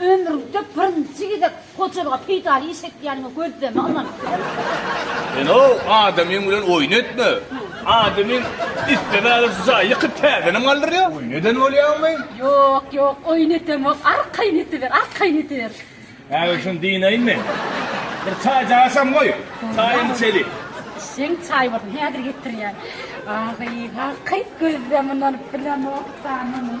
Ömrümde birinji gezek hojalyga peýdaly iş etýänime gözleme ynanyp bilemok. Sen-ow adamyň bilen oýun etme. Adamyň islemagynda şu jaýy ýykyp täzenem galdyrýar. Oýun eden bolýaňmy? Ýok, ýok, oýun edemok. Arkaýyn ediber, arkaýyn ediber. Häzir şuny dynaýyn men. Bir çaýjak açam goý, çaýam içeli. Işiň çaý bolsun, häzir getirýän. Ahyýha, gyz gözleme ynanyp bilemok, janymyň.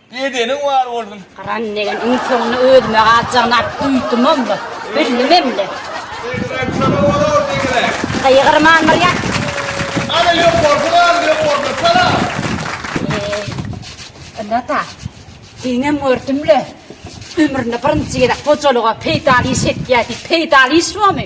Bedeniň bar bolsun. Gyran degen iň soňuna özüme galjagyny aýyp duýdumam da, bildimem-de. Segrek şoňa bolar segrek. Gygyrman bir ýat. Ana ýokarky galyň ýokarda salam. Eý, indi ata, seniňem gördüm-le, ömründe birinji gezek hojalyga peýdaly iş etýär diýip, peýdaly iş bu-my?